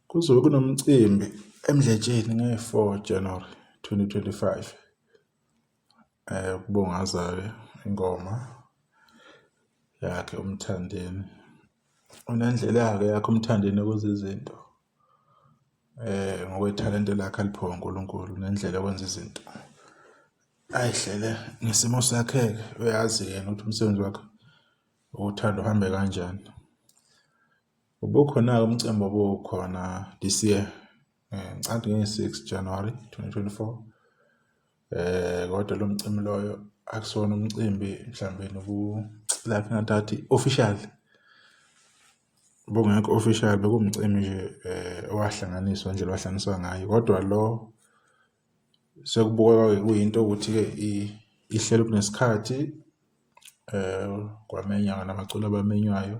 Kuzobe kunomcimbi eMdletsheni nge-four January twenty twenty five ukubungaza-ke ingoma yakhe uMthandeni. Unendlela-ke yakhe uMthandeni ukwenza izinto ngokwethalente lakhe aliphiwe uNkulunkulu unendlela yokwenza izinto ay'hlele ngesimo sakhe-ke uyazi yena ukuthi umsebenzi wakhe. Uthando uhambe kanjani? Ubukhona-ke umcimbi obukhona this year eh, ngicabanga nge-six January 2024 eh kodwa lo mcimbi loyo akusona umcimbi mhlawumbe nobu like ngathi official bongekho official bekumcimbi nje eh owahlanganiswa nje lwahlanganiswa ngayo kodwa lo Sekubukeka-ke kuyinto ukuthi-ke ihlelwe kunesikhathi kwamenywa namaculo abamenywayo,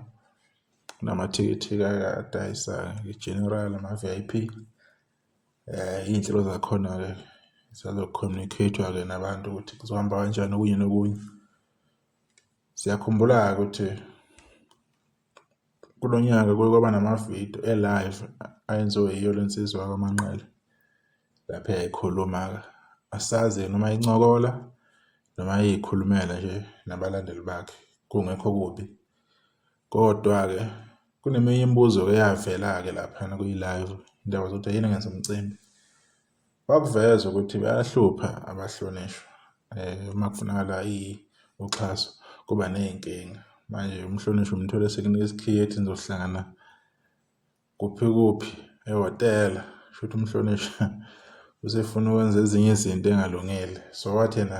namathikithi-ke adayisa i-general nama-V_I_P. Iy'nhlelo zakhona-ke zisazo-communicate-wa-ke nabantu ukuthi kuzohamba kanjani okunye nokunye. Siyakhumbula-ke ukuthi. Kulo nyaka kuye kwaba namavidiyo e-live ayenziwe yiyo le nsizwa yakwaManqele. Lapho yayikhuluma-ke, asazi yena uma incokola noma yayikhulumela nje nabalandeli bakhe, kungekho kubi. Kodwa-ke kuneminye imibuzo-ke eyavela-ke laphana kwi-live, into yabaza ukuthi yini engenza umcimbi. Wakuveza ukuthi bayahlupha abahlonishwa eh, uma kufunakala uxhaso kuba ney'nkinga. Manje umhlonishwa umthole sekunika isikhiye ethi nizohlangana kuphi kuphi ehhotela. Kushuthi umhlonishwa usefuna ukwenza ezinye izinto engalungile. So wathi yena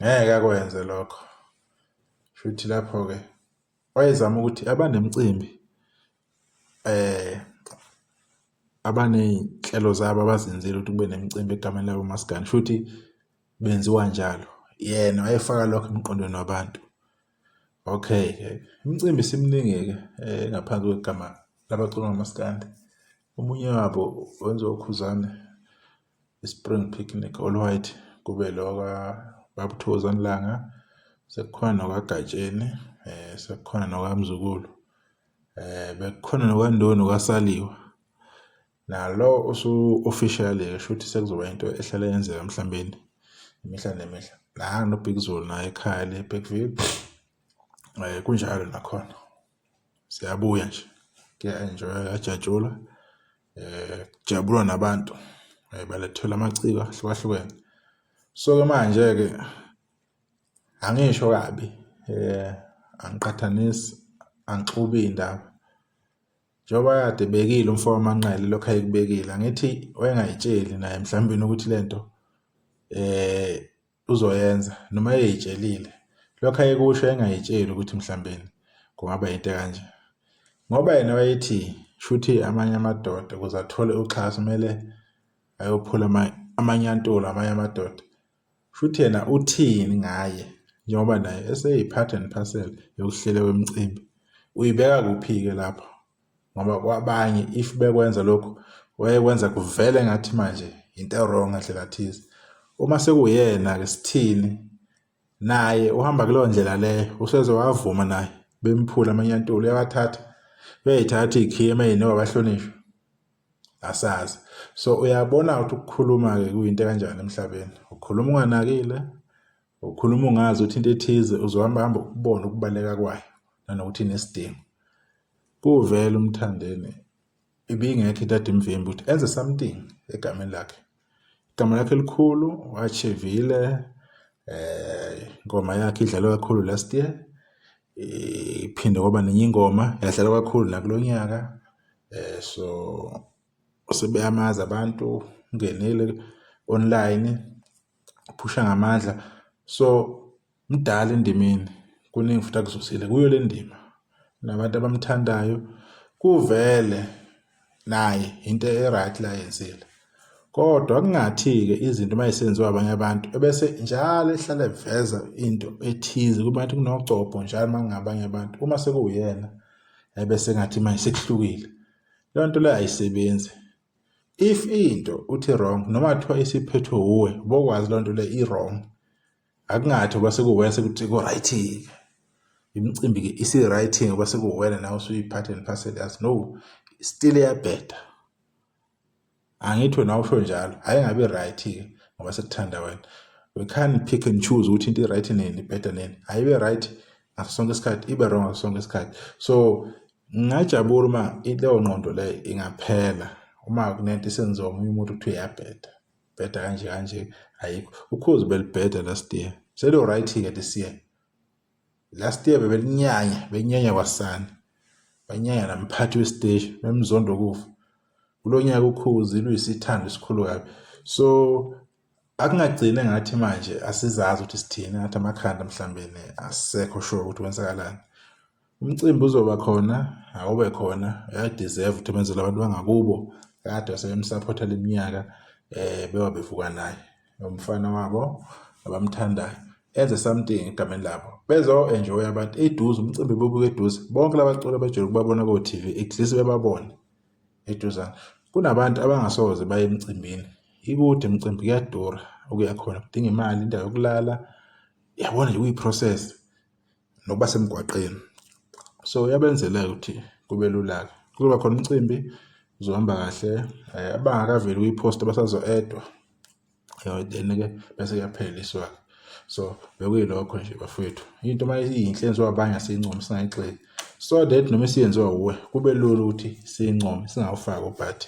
ngeke akwenze lokho. Kushuthi lapho-ke wayezama ukuthi abanemicimbi eh abaney'nhlelo zabo abazenzile ukuthi kube nemicimbi egameni labo maskandi futhi benziwa njalo yena wayefaka lokho emqondweni wabantu okay imicimbi simningi-ke eh, ngaphansi kwegama labacula ngamaskandi omunye wabo wenziwa ukhuzane i-spring picnic all white kube lo kababuthoza nilanga sekukhona nokagatsheni eh sekukhona nokamzukulu eh bekukhona nokwandoni kwasaliwa nalo usu officially esho ukuthi sekuzoba into ehlala yenzeka emhlambeni imihla nemihla la no Big Zulu naye ekhaya le Big View eh kunjalo nakhona siyabuya nje kuya-enjoywa kuyajatshulwa um eh, kujabulwa nabantu um balethelwa amaciko ahlukahlukene so-ke manje-ke angisho kabi um angiqhathanisi angixubi iy'ndaba njengoba kade ebekile umfo wamanqele lokhu ayekubekile angithi wayengayitsheli naye mhlawumbe ukuthi le nto um uzoyenza noma eyitshelile lokho ayekusho engayitsheli ukuthi mhlambeni kungaba yinto kanje ngoba yena wayethi shuthi amanye amadoda ukuze athole uxhaso kumele ayophula amanyantulo amanye amadoda shuthi yena uthini ngaye njengoba naye eseyiphatha and parcel yokuhlela kwemicimbi uyibeka kuphi-ke lapho ngoba kwabanye if bekwenza lokhu wayekwenza kuvele ngathi manje into ewrong ngandlela thize uma sekuyena-ke sithini naye uhamba kuleyo ndlela leyo useze wavuma naye bemphula amanyantula uyawathatha uyayithatha iy'khiye emayini wabahlonishwa asazi so uyabona ukuthi ukukhuluma-ke kuyinto ekanjani emhlabeni ukhuluma unganakile Ukhuluma ungazi ukuthi into ethize uzohamba hamba ukubona ukubaleka kwayo nanokuthi inesidingo. Kuvele umthandeni ibingekho into adimvimbi ukuthi enze something egameni lakhe. Igama lakhe elikhulu wachivile eh ingoma yakhe idlalwa kakhulu last year iphinde kwaba nenye ingoma yadlalwa kakhulu nakulo nyaka eh so sebeyamazi abantu ungenile online phusha ngamandla so mdala endimeni kuningi futhi akuzosile kuyo le ndima nabantu abamthandayo kuvele naye into e-right la yenzile kodwa kungathi-ke izinto uma esenziwa abanye abantu ebese njalo ehlale eveza into ethize kubantu kunogcobho njalo uma kungabanye abantu uma sekuwuyena ebese ngathi manje sekuhlukile leyo nto leyo ayisebenzi if into uthi wrong noma kuthiwa isiphethwe wuwe bokwazi loo nto le i-wrong akungathi uba sekuwena sekuthi ku-right-ke imicimbi-ke isi-right ngoba sekuwena nawe usuyi-part and parcel yazi no still iyabheda angithi wena usho njalo hhayi ngabe i-right-ke ngoba sekuthanda wena we can pick and choose ukuthi into i-right nini ibheda nini hhayi ibe-right ngaso sonke isikhathi ibe-wrong ngaso sonke isikhathi so Ngingajabula uma leyo ngqondo leyo ingaphela uma kunento isenziwa omunye umuntu kuthiwa iyabheda bheda kanje kanje ayikho ukhozi belibheda last year seliwright-ke this year last year bebelinyanya benyanya kwasani banyanya namphathi wesiteshi bemzondo kufa kulo nyaka ukhozi luyisithando esikhulu kabi so akungagcini ngathi manje asizazi ukuthi sithini ngathi amakhanda mhlawumbeni asekho sure ukuthi kwenzakalani umcimbi uzoba khona awube khona uyadeserve ukuthi benzele abantu bangakubo kade wasebemsapotha leminyaka eh bewa bevuka naye umfana wabo abamthandayo enze something egameni labo bezo enjoy abantu eduze umcimbi bobuka eduze bonke labaculi abajele ukubabona ko TV at least bebabone eduzane kunabantu abangasoze baye emcimbini ikude imicimbi kuyadura okuya khona kudinga imali indawo yokulala yabona nje kuyi-process nokuba semgwaqeni so yabenzela ukuthi kube lula-ke kuzoba khona umcimbi uzohamba kahle um abangakaveli kwi-post basazo-edwa then-ke bese kuyaphela iswaka so bekuyilokho nje bafowethu into uma iyinhle yenziwa abanye asiyincome singayigxeki so that noma isiyenziwa wuwe kube lula ukuthi siyincome singawufaki ubhathi